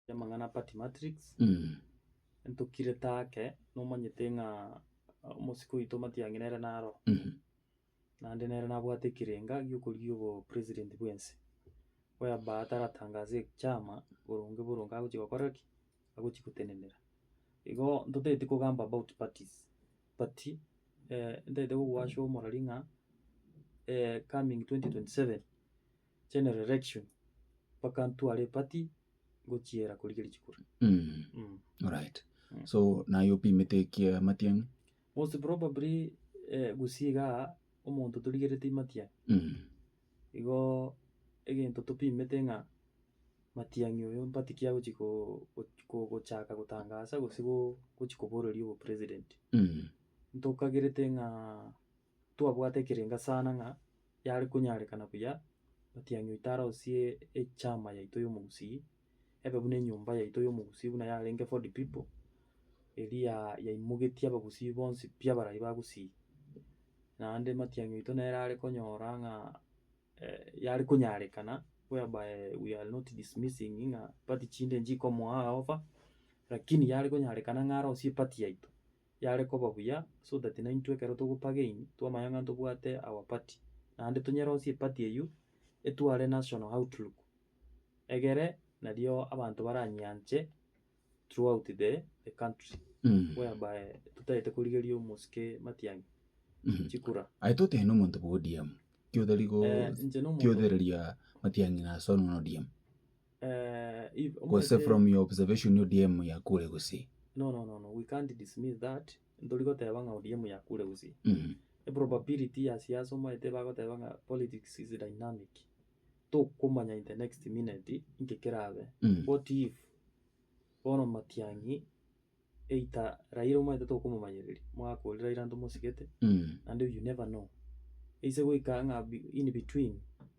Amang'ana a Party Matrix, ntokirete ake, nomanyete ng'a omosike oito Matiang'i nere naro, naende nere nabwate ekerenga gi'okorigia obopresident bw'ense, whereby taratangase ekiama boronge boronge agochia gokora ki? Agochia gotenenera. Igo ntotagete kogamba about parties, but ntagete kogwasha omorori ng'a coming twenty twenty seven. general election mpaka ntware epati ngochiera korigeria chikura mm. Alright. Mm. So naye opimete ekia Matiang'i? Most probably eh, Gusii igaa omonto torigerete Matiang'i Mm. igo egento topimete ng'a Matiang'i oyo mpati ki agochi ko- go- ko- gochaka gotangasa gose go- gochi koboreria obopresident Mm. ntokagerete ng'a Twabwate ekerengo sana ng'a yare konyarekana buya matiang'i oito arosie echama yaito y'omogusii, ebe buna enyomba yaito y'omogusii buna yarenge Ford People, eria yaimogetie abagusii bonsi pi abarai bagusii. Naende matiang'i oito nere are konyora ng'a yare konyarekana whereby we are not dismissing ng'a party chinde nchikomoa offer, lakini yare konyarekana ng'a arosie party yaito. yare koba buya, so that naintwe ekero togopagain twamanya ng'a ntobwate our party, naende tonyerosie eparty eyio etware national outlook egere nario abanto baranyianche throughout the the country whereby totaete korigeria omosike Matiang'i chikura. Aye totebe nomonto bwa ODM, ki otari go Eh, inche nomonto- ki otereria Matiang'i na Hassan buna ODM. Gose from your observation ODM yakure gusii? No no no no we can't dismiss that ntori goteba ng'a ODM yakure gusii. Eprobability ya siasa omanyete bagoteba ng'a politics is dynamic tokomanya in the next minute inki kerabe. What if bono Matiang'i either Raila omanyete tokomomanyereria omwaka oria Raila ntomosigete naende you never know. Ase goika ng'a in between.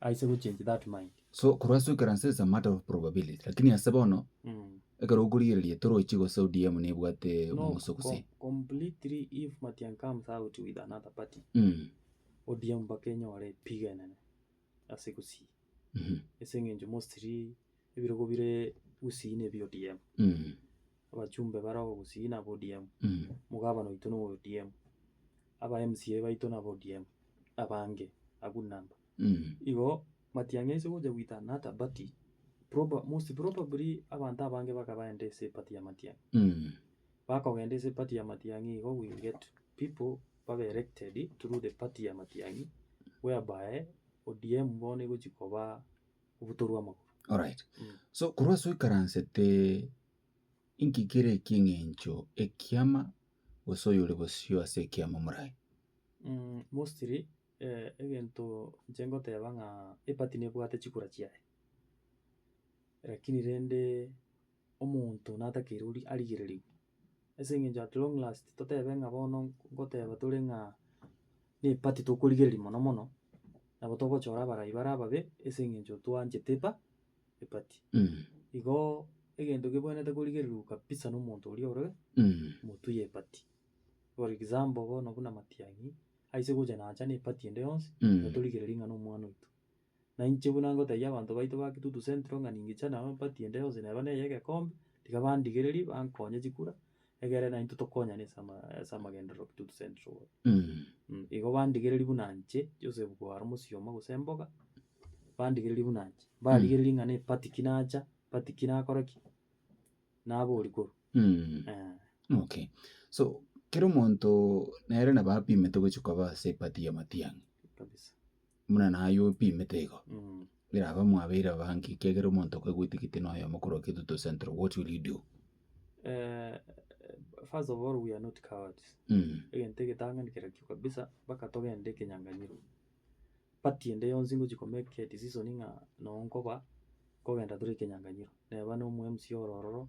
I say go change that mind. So korwa ase oikera nse is a matter of probability. Lakini ase bono ekero okorigereria torochi gose ODM nebwate No, omoguso gose. com- completely if Matiang comes out with another party, Mm. ODM mpaka enyore epigo enene ase Gusii. Mhm. Ase eng'encho mostly Ebirogo bire gusii ne bi ODM. Abachumbe bare oko gusii naba ODM. Omogabana oito nowe ODM. Aba MCA baito naba ODM. Abange a good number. Igo matiang'i ase gocha goitana ata but proba most probably abanto abange baka baenda ase eparty ya matiang'i. Bakogenda ase eparty ya matiang'i igo we will get people babe elected through the party ya matiang'i whereby ODM bono egochi koba. obotoru bw'amagoro. Alright. Mm. So korwa ase oikaransete inki kere eking'encho ekiama gose oyore bosio ase ekiama moraye? Mm, mostly eh, egento inche ngoteba ng'a epati nebwate chikura chiaye lakini rende omonto natakeire ori- arigererigwe. Ase eng'encho at long last totebe ng'a bono ngoteba tore ng'a ne party tokorigereria mono mono, nabo togochora abarai bare ababe ase eng'encho twanchete epa eparty. Igoo egento kebwenerete korigererwa kabisa na omonto oria ore motu ye party. For example bono buna matiang'i aise gocha nacha ne party ende yonsi, natorigereria ng'a na omwana oito. na inche buna ngotebia abanto baito ba Kitutu Central ng'a ningicha nao empati ende yonsi neba neye egekombe, tiga bandigererie bankonye chikura, egere naintwe tokonyane ase ama ase amagenderero Kitutu Central bono. Mh, igo bandigererie buna nche, Joseph Kogaro Mosioma gose Mboga, bandigererie buna nche, mbarigererie ng'a na empati ki nacha, empati ki nakora ki, naboria korwa eh. Okay, so kera omonto nere nabo apimete gochia koba ase empati y'amatiang'a. Kabisa. buna naye opimete igo, birabe mwabeire abange ekiagera omonto okaigwa etigiti na oyomo korwa Kitutu Central, what will you do? Eh, first of all we are not cowards, Mm. egento egetang'ani kera kio kabisa mpaka togende ekenyang'anyiro. Party ende yonsi ngochi ko make edecision ng'a noo nkoba kogenda tore ekenyang'anyiro, neba na omo mca oro ororo,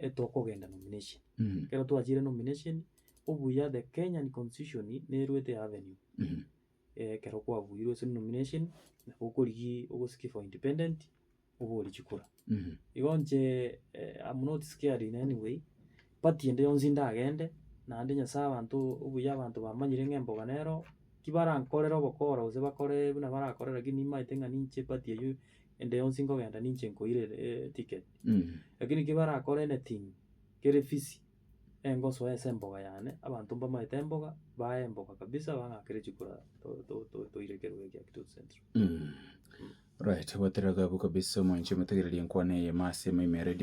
etokogenda nomination. Mm. Ekero twachire nomination, obuya the Kenyan constitution nerwete ya avenue. Mm. Ekero kwabuirwe ase nomination, nabo okorigi ogosiki for independent, obori chikura. Mm. Igo nche am not scared in any way, party ende yonsi ndagende, naende Nyasaye abanto obuya abanto bamanyire ng'a emboga nero, ki barankorere obokora gose bakore buna barakorere lakini nimaete ng'a ninche party eyio ende yonsi nkogenda ninche nkoirere ticket. Lakini ekio barakore anything kere fisi, engosoe ase emboga yane, abanto mbamaete emboga, bae emboga kabisa bang'akere chikura to- to- to- toire ekerogo ekia Kitutu Central. Right, goetera iga abwo kabisa omonto omotegereri enkwana eye ime ase ime ime eredio.